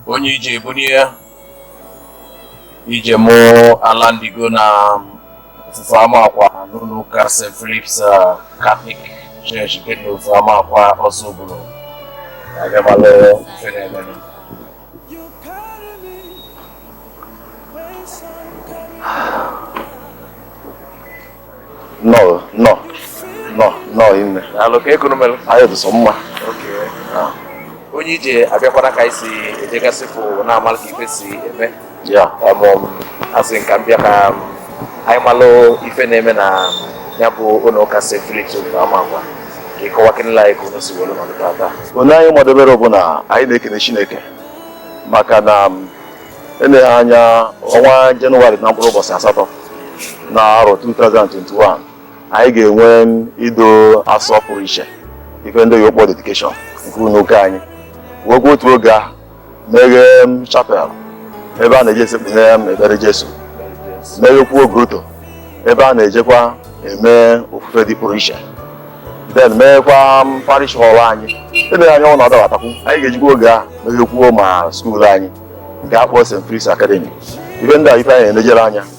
onye ije ebunie ije mụ alandigo na ofufe amakwa n'ụlọ ụka st philips uh, catholic church nke dị n'ofufe amakwa ozubulu abịa malụ ife na-emenụ nnọọ nnọọ nnọọ nnọọ imela o kee ka unu melu anyị dị sọ mma okay onye ije abịakwana ka anyị si ejegasịpụ na-amalụ ka ife si eme ya asị m ka m bịa ka anyị malụ ife na-eme na ya bụ ụlọ ụka St. Philip na Amakwa ka ị kọwakenelụ anyị ka unu si were nọdụ tata onye anyị kwadebere bụ na anyị na-ekene Chineke maka na eleghị anya ọnwa Jenụwarị na mkpụrụ ụbọchị asatọ na arọ 2021 anyị ga-enwe ido asọ pụrụ iche ife ndị oyibo kpọ dedication nke ụlọ ụka anyị wekwa otu oge ahụ meghee chapel ebe a na-eje esekpu ana ekpere Jesu meghekwuo grotto ebe a na-ejekwa eme ofufe dị pụrụ iche then meghekwa parish hall anyị eleghị anya ọ na-adabatakwu anyị ga-ejikwa oge a meghekwuo ma skuul anyị nke a kpọọ St. Philip's Academy ife ndị a ife anyị na-elejere anya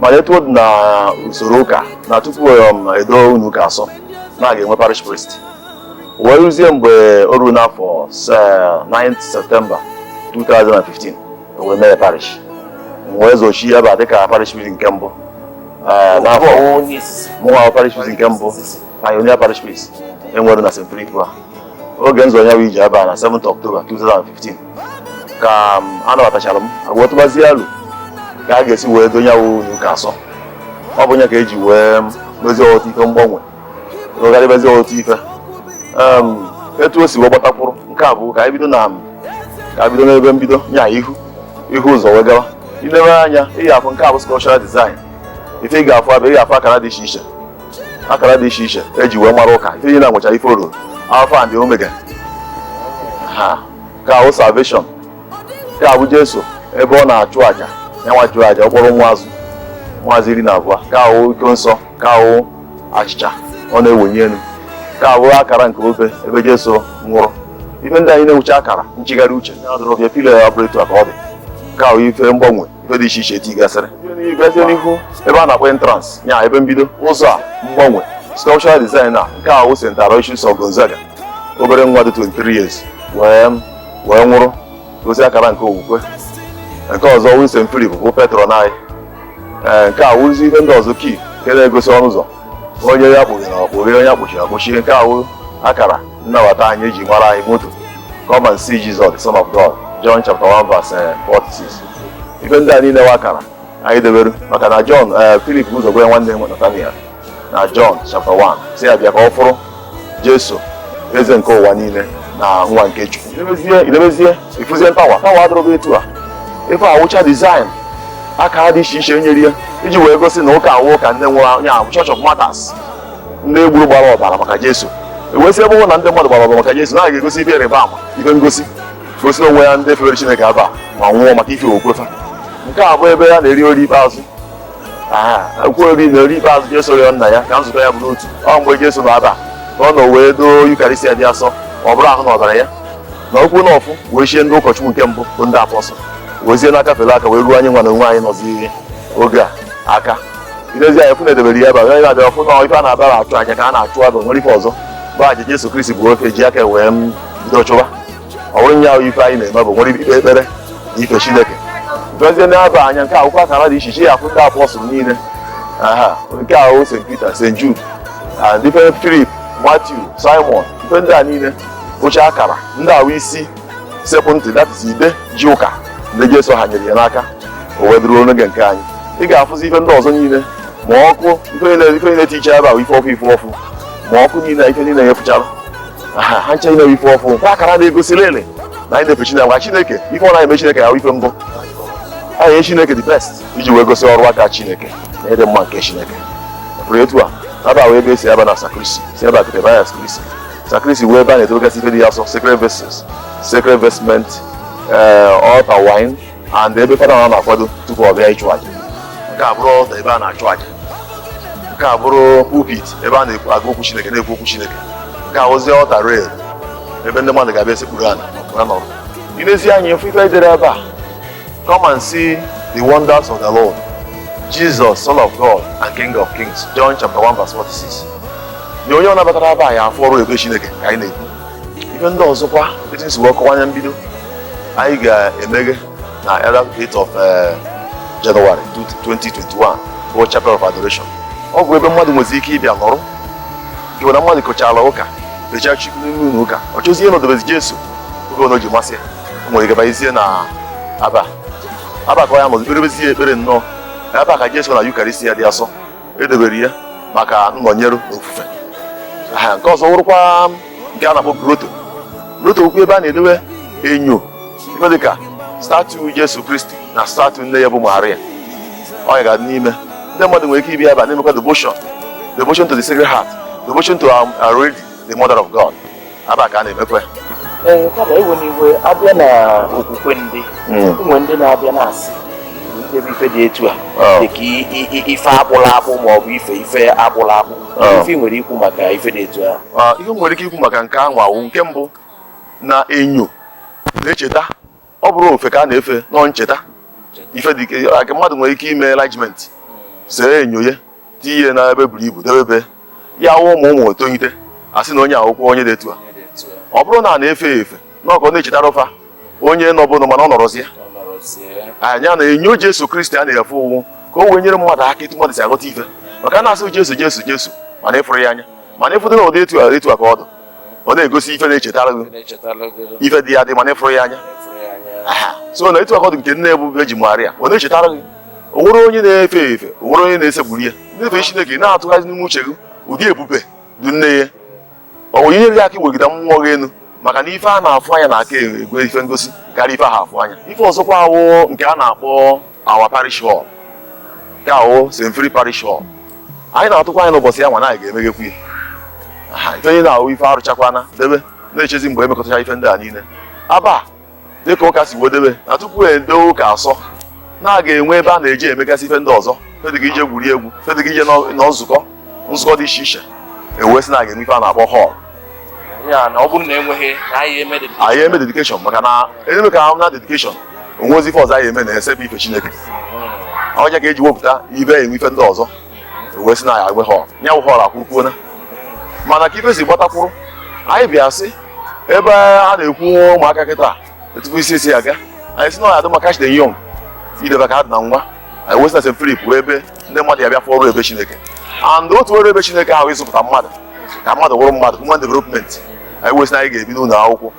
mana etu ọ dị na usoro ụka na tupu um, edo ụnọ ụka asọ na a ga-enwe parish priest wee ruzie mgbe o ruo n'afọ 9 septemba 2015 wee mee parish m wee zọchie ebe a dịka parish priest nke mbụ eh, n'afọ mụnwa parish priest nke mbụ pioneer parish priest e nwere na st philip a oge m zọ ya bụ ije ebe a na 7 October 2015 ka a nabatachara m wee tụbazie elo ka a ga-esi wee doo nya bụ ụnọ ụka asọ ọ bụ nya ka e ji wee mezie ọtụtụ ife mgbanwe rụgharịbazie ọtụtụ ife etu o si wee gbatakwụrụ nke a bụ ka anyị bido na ka a bido n'ebe mbido nya ihu ihu ụzọ wee gawa i lebe anya ị ga-afụ nke a bụ sculptural design ife ị ga-afụ ebe a ị ga-afụ akara dị iche iche akara dị iche iche e ji wee mara ụka ife niile na-enwecha ife ọ rụrụ alpha and omega ha nke a bụ salvation nke a bụ jesu ebe ọ na-achụ aja ya nwa chụrụ aja ọ kpọrọ ụmụ azụ iri na abụọ nke a bụ iko nsọ nke a bụ achịcha ọ na-ewenye elu nke a bụ akara nke obe ebe jesu nwụrụ ife ndị a niile nwecha akara nchigharị uche ya dụrụ bịa pillar abụrọ etu a ka ọ dị nke a bụ ife m gbanwe ife dị iche iche e tigasịrị bịazie n'ihu ebe a na-akpọ entrance ya ebe mbido ụzọ a m gbanwe sculptural design a nke a bụ St. Aloysius of Gonzaga obere nwa dị 23 years wee nwụrụ gosi akara nke okwukwe nke ọzọ wụ St. Philip bụ patron anyị ee nke a wụzi ihe ndị ọzọ key nke na-egosi ọnụ ụzọ onye a kpọghere ọ kpọghe onye a kpọchiri akpọchie nke a wụ akara nnabata anyị eji mara anyị motto come and see Jesus the son of God John chapter 1 verse 46 ife ndị a niile wụ akara anyị debere maka na ọ Philip bu ụzọ gwa nwanne ya Nataniel na John chapter 1 sị ya bịa ka ọ fụrụ Jesu eze nke ụwa niile na nwa nke Chukwu i lebezie i lebezie ị fụzie tower tower a dịrọba etu a ife a wụcha design aka dị iche iche nyere ya iji wee gosi na ụka a wụ ụka ndị nwụrụ nya wụ Church of Martyrs ndị e gburu gbara ọbara maka Jesu e wee sị ebe na ndị mmadụ gbara ọbara maka Jesu na a ga-egosi ife ịrịba ama ife ngosi gosi onwe ya ndị fere Chineke aba ma nwụọ maka ife okwukwe fa nke a bụ ebe ya na-eri oriri ikpeazụ Ọ bụ na oriri ikpeazụ Jesu rịọ nna ya ka nzukọ ya bụrụ otu ọ mgbe Jesu nọ aba ka ọ nọ wee doo Yukarịstia dị asọ ma ọ bụrụ ahụ na ọbara ya na okwu na ọfụ wee chie ndị ụkọchukwu nke mbụ bụ ndị apọstụl wezie n'aka fere aka wee ruo anyị nwa na onwe anyị nọzi oge a aka i lezi anya ị fụ na e debere ya aba onye abịa fụ na ife a na-abara achụ aja ka a na-achụ abụ nwere ife ọzọ bụ aja Jesu Kristi bụ ife o ji aka wee bido chụwa ọ bụrụ nya wụ ife anyị na-eme bụ nwere ikpe ekpere na ife chineke lebezie n'aba anya nke a wụkwa akara dị iche iche ị ya-afụ ndị apọstụl niile aha nke a wụ st peter st jude andrew philip matthew simon ife ndị a niile wụcha akara ndị a wụ isi sekpụ ntị that is ide ji ụka ndị jesu hanyere ya n'aka o wee dịruo n'oge nke anyị ị ga-afụzi ife ndị ọzọ niile ma ọkụ ife niile ife niile dịcha ebe a wụ ife ọkụ ife ọfụ ma ọkụ niile ife niile ị ya-afụchara ha ncha niine ife ọfụ kwa akara na-egosi lele na anyị na-efe Chineke gwa Chineke ife ọ na-eme Chineke na ife mbụ anyị nye Chineke the best iji wee gosi ọrụ aka Chineke na ịdị mma nke Chineke pụrụ etu a aba wụ ebe e si aba na sacristy si aba kete baya sacristy sacristy wụ ebe a na-edobegasị ife dị asọ sacred vessels sacred vestment eh, altar wine and ebe fada na na-akwado tupu ọ bịa ịchụ aja nke a bụrụ altar ebe a na-achụ aja nke a bụrụ pulpit ebe a na-agụ okwu chineke na-ekwu okwu chineke nke a wụzie altar rail ebe ndị mmadụ ga-abịa esekpuru ala na nọrọ i lezi anya ị fụ ife e dere ebe a come and see the wonders of the lord jesus son of god and king of kings john chapter 1 verse 46 na onye ọbụna batara ebe a ya-afụ ọrụ ebere chineke ka anyị na-ekwu ife ndị ọzọkwa etu m si wee kọwa nya mbido anyị ga-emeghe na eh 8th of eh, January 2021 bụ Chapel of Adoration ọ bụ ebe mmadụ nwezi ike ịbịa nọrọ i were na mmadụ kọchara ụka fechaa chukwu n'ime ụlọ ụka ọ chọzie ịnọdebezi Jesu oge ọbụna ji masị ya o nwere ike ịbanyezie na aba aba ka ọ ya-anọzi kperebezie ekpere nnọọ ebe a ka Jesu na Yukarịstia dị asọ edobere ya maka nnọnyere ofufe nke ọzọ wụrụkwa nke a na-akpọ groto groto okwu ebe a na-edowe enyo ife dịka statu Jesu Kristi na statu nne ya bụ Maria ọ ya ga-adị n'ime ndị mmadụ nwere ike ịbịa ebe a na-emekwa devotion devotion to the Sacred Heart devotion to our, our Lady, the Mother of God. aba ka a na-emekwa ee kama ewe n'iwe abịa na okwukwe ndị ụmụ ndị na-abịa na-asị ebe ife dị etu a oh. dịka ife akpụlụ akpụ ma ọ bụ ife ife akpụlụ akpụ oh. ife m nwere ikwu maka ife dị etu a ah, ife m nwere ike ikwu maka nke ahụ wụ nke mbụ na enyo na-echeta ọ bụrọ ofe ka a na-efe na ọ ncheta ife dịka mmadụ nwere ike ime enlargement see enyo ya tinye na ebe buru ibu debe ya wụ ụmụ ụmụ etonite asị na onye a wụkwa onye dị etu a ọ bụrọ na a na-efe ya efe na ọ ka ọ na-echetara fa onye nọbu nụ mana ọ nọrọzi ya anya na enyo Jesu Kristi a na-efe ọ wụ ka o wee nyere mmadụ aka etu mmadụ si aghọta ife maka na asị Jesu Jesu Jesu mana ị fụrọ ya anya mana ịfụdụ na ụdị etu a etu a ka ọ dị ọ na-egosi ife na-echetara gị ife dị adị mana ị fụrọ ya anya so na etu a ka ọ dị nke nne bụ Vejin Maria ọ na-echetara gị o nwerọ onye na-efe efe o nwerọ onye na-esekpuru ya na-efe Chineke na-atụghari n'ime uche gị ụdị ebube dị nne ya o wee nyere gị aka iwegide mmụọ gị elu maka na ife a na-afụ anya na-aka enwe ife ngosi karịa ife a fụrọ anya ife ọzọkwa wụ nke a na-akpọ our parish hall nke wụ St. Philip parish hall anyị na-atụkwa anya n'ụbọchị ya nwa na anyị ga-emeghekwu ya Ha, ife onye na ọ wụ ife arụchakwana debe na-echezi mgbe emekọtacha ife ndị a niile aba dịka ụka si wee debe na tupu edoo ụka asọ na a ga-enwe ebe a na-eji emegasị ife ndị ọzọ ife dịka ije gwuri egwu ife dịka ije nọ nọ nzukọ nzukọ dị iche iche e wee sị na a ga-enwe ife a na-akpọ họl ya na ọ bụrụ na enweghị na anyị eme dedikeshọn anyị eme dedikeshọn maka na eme ka na dedikeshọn o nwezi ife ọzọ anyị eme na-ese bụ ife Chineke hmm. ọ nya ka e ji wepụta ebe e nwe ife ndị ọzọ wee sị na ya enwe họl ya wụ họl akwụkwuona mana ka ife si gbatakwuru anyị bịa sị ebe a na-ekwu ụmụaka kịta etubu isi esi aga anyị si na ọ ya-adị mma catch them young idebe ka ha dị na nwa anyị wee sị na St. Philip wụ ebe ndị mmadụ ya-abịa fụọ ọrụ ebube Chineke and otu ọrụ ebube Chineke wụ ịzụpụta mmadụ ka mmadụ wụrụ mmadụ human development anyị wee sị na anyị ga-ebido ụlọ akwụkwọ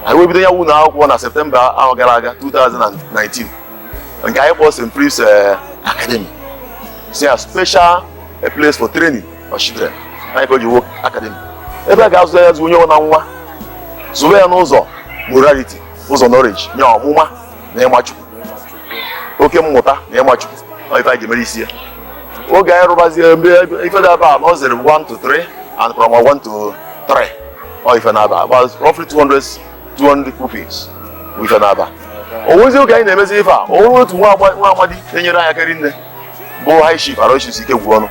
anyị wee bido ya ụlọ akwụkwọ na Septemba arọ gara aga 2019 nke anyị kpọrọ St. Philip's eh, Academy is a special place for training of children nya ka o ji wuo akademi ebe a ga-azụ ya zụ onye nwe na nwa zụwe ya n'ụzọ morality ụzọ knowledge nye ọmụma na ịma Chukwu oke mmụta na ịma Chukwu ọ ife anyị ga-emere isi ya oge anyị rụbazie mgbe ife nọ aba nursery 1 to 3 and primary 1 to 3 ọ ife nọ aba about roughly 200 200 pupils bụ ife nọ aba o nwezi oge anyị na-emezi ife a o nwere otu nwa agba- nwa amadi na-enyere anyị aka rinne bụ high chief Aloysius Ikegwuonu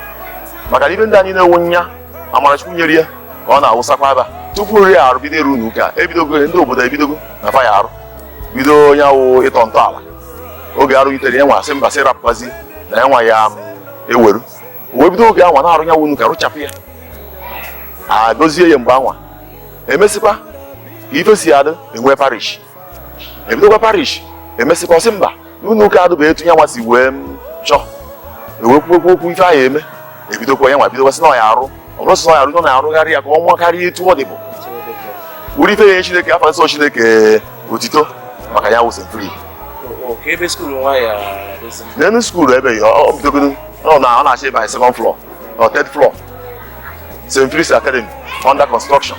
maka na ife ndị anyị na-enwe nya amara Chukwu nyere ya ka ọ na-awụsakwa ebe a tupu nri arụ bido arụ ụnọ ụka ebidogo ndị obodo ebidogo na fa ya-arụ bido onye awụ ịtọ ntọala oge arụ yitere ya nwa asị mba sị rapụkwazi na ya nwa ya-eweru wee bido oge anwa na-arụ ya wụ ụnọ ụka rụchapụ ya agọzie ya mgbe anwa emesịkwa ka ife si adị enwe parish ebidokwa parish emesịkwa ọ sị mba n'ụlọ ụka adịba etu ya nwa si wee chọọ ewekwu okwu ife ahụ eme ebidokwa ya nwa bidokwa sị na ọ ya-arụ ọ bụrụ sị na ọ ya-arụ nọ na-arụgharị ya ka ọ nwa karịa etu ọ dịbu wuri ife ya Chineke afa nsọ Chineke otito maka ya wụ St. Philip n'elu skuulu ebe ya ọ bidogodo ọ na ọ na-achị ebe anyị second floor or third floor St. Philip's Academy under construction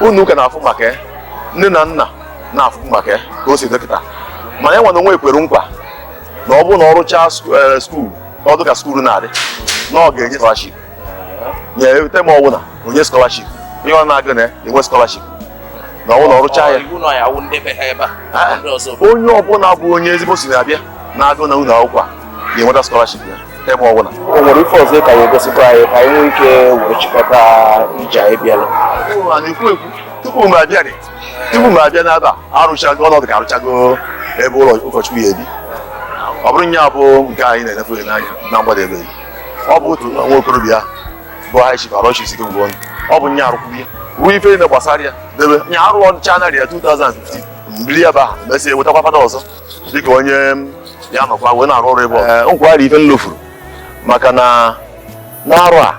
ụlọ ụka na-afụ maka ya nne na nna na-afụ maka ya ka o si dị kịta mana ya nwa na onwe ekwere nkwa na ọ bụrụ na ọ rụchaa eh, skuul na ọ dịka skuul na-adị na ọ ga-enye skọlaship nye term ọwụna o nye skọlaship ihe ọ na-agụ na-enwe skọlaship na ọ bụrụ na ọ rụchaa ya ah, onye ọbụla bụ onye ezigbo si na-abịa na-agụ na ụlọ akwụkwọ a ga-enweta skọlaship ya term ọbụla o nwere ife ọzọ ka ya-egosikwa anyị ka anyị nwee ike were chịkọta ije anyị bịara a na-ekwu ekwu tupu m abịa dị tupu m abịa n'ebe a arụchago ụnọ ụka arụchago ebe ụlọ ụkọchukwu ya-ebi ọ bụrụ nya bụ nke anyị na-enefe ya n'anya na mgbadebe ọ bụ otu nwa okorobịa bụ High Chief Aloysius Ikegwuonu ọ bụ nya arụkwụ ya rụọ ife niile gbasara ya debe nya arụ ọnwa January 2015 m bili ya bụ aha mesịa wetakwa fada ọzọ dịka onye ya nọkwa wee na-arụ ọrụ ebe ọ nkwari ife nlofuru maka na n'arọ a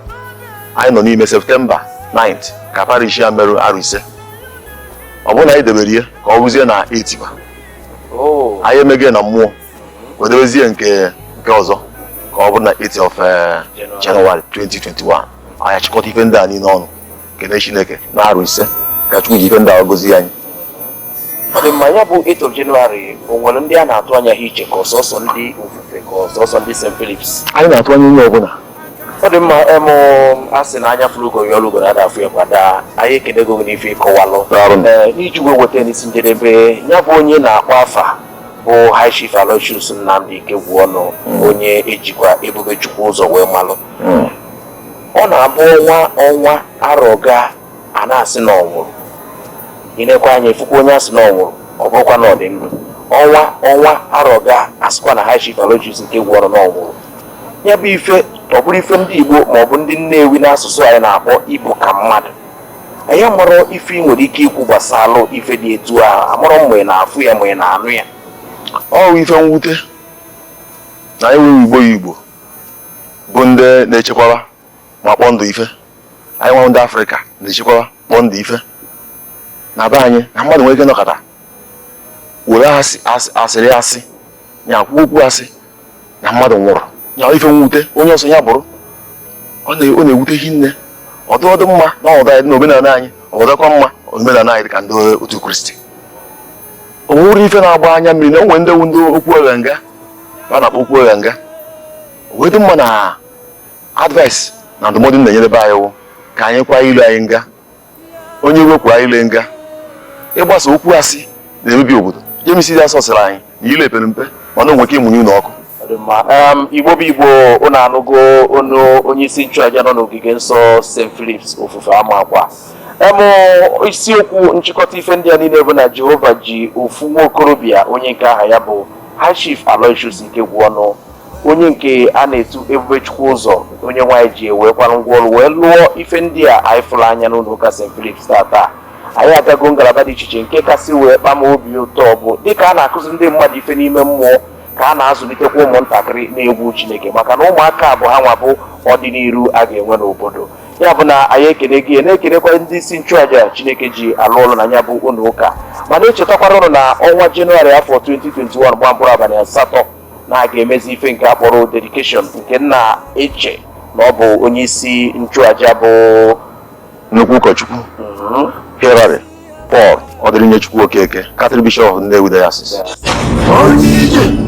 anyị nọ n'ime septemba 9 ka parish ya merụ arọ ise ọ bụrụ na anyị debere ya ka ọ bụzie na 8th oh. anyị emeghe na mmụọ wee debezie nke nke ọzọ ka ọ bụrụ na 8 of eh, January 2021 anyị achịkọta ife ndị a niile ọnụ kene Chineke na arọ ise ka Chukwu ji ife ndị a gọzie anyị ọ dị mma ya bụ 8 of January o nwere ndị a na-atụ anya ha iche ka ọ sọsọ ndị Ofufe ka ọ sọsọ ndị St. Philips anyị na-atụ anya onye ọbụla ọ dị mma emụ a sị na anya fụrụ ugo ya ọlụgo na a da afụ ya kwa daa anyị ekenego gị n'ife ị kọwalụ Daalụ. Ee, n'iji wee weta n'isi njedebe ya bụ onye a na-akpọ afa bụ High Chief Aloysius Nnamdi Ikegwuonu onye e jikwa Ebubechukwuzo wee malụ ọ na-abụ ọnwa ọnwa arọ gaa a na-asị na ọ nwụrụ i nekwa anya ị fụkwa onye a sị na ọ nwụrụ ọ bụrụkwa na ọ dị ndụ ọnwa ọnwa arọ gaa a sịkwa na High Chief Aloysius Ikegwuọnụ na ọ nwụrụ ya bụ ife ọ bụrụ ife ndị igbo ma ọ bụ ndị nnewi n'asụsụ anyị na-akpọ ibu ka mmadụ anyị amarọ ife ị nwere ike ikwu gbasalụ ife dị etu ahụ amarọ mgbe ị na-afụ ya ma ị na-anụ ya ọ bụ ife mwute na enweghị igbo ya igbo bụ ndị na-echekwaba ma kpọọ ndụ ife anyị nwa ndị afrịka na-echekwaba kpọọ ndụ ife na be anyị na mmadụ nwere ike nọkọta were asịrị asị ya kwuo okwu asị na mmadụ nwụrụ ya ife mwute onye ọ sọ ya bụrụ ọ na-ewute hinne ọ dụ ọ dụ mma na ọdụ anyị na omenala anyị ọ dụkwa mma omenala anyị dị ka ndị otu kristi o nwere ife na-agba anya mmiri na o nwere ndị wụ ndị okwu ụgha nga a na-akpọ okwu ụgha nga wee dị mma na advice na ndụmọdụ na-enyere be anyị wụ ka anyị kwa ile anyị nga onye wepụ anyị ile nga ịgbasa okwu asị na-emebi obodo James dị asọ sịrị anyị na ile epere mpe mana o nwe ike ịmụnye ụlọ ọkụ igbo bụ igbo ụnụ anụgo ọnụ onye isi nchụaja nọ n'ogige nsọ St. Philips Ofufe Amakwa em isiokwu nchịkọta ife ndị a niile bụ na Jehova ji ofu nwa okorobịa onye nke aha ya bụ High Chief Aloysius Ikegwuọnụ onye nke a na-etu Ebubechukwuzọ Onyenweanyị ji ewekwara ngwa ọlụ wee lụọ ife ndị a anyị fụrụ anya n'ụnọ ụka St. Philip's tata anyị agago ngalaba dị iche iche nke kasị wee kpa m obi ụtọ bụ dịka a na-akụzi ndị mmadụ ife n'ime mmụọ ka a na-azụlitekwa ụmụntakịrị n'egwu Chineke maka na ụmụaka bụ ha nwa bụ ọdịniru a ga-enwe n'obodo ya bụ na anyị ekene gị na-ekenekwa ndị isi nchụaja chineke ji alụ ọlụ na ya bụ ụnọ ụka ma na-echetakwara ụnụ na ọnwa jenụwarị afọ 2021 gba mkpụrụ abalị asatọ na a ga-emezi ife nke a kpọrọ dedication nke m na-eche na ọ bụ onye isi nchụaja bụ nnukwu ụkọchukwu Hilary Paul Ọdịrinyechukwu Okeke Catholic Bishop of Nnewi Diocese Onye ije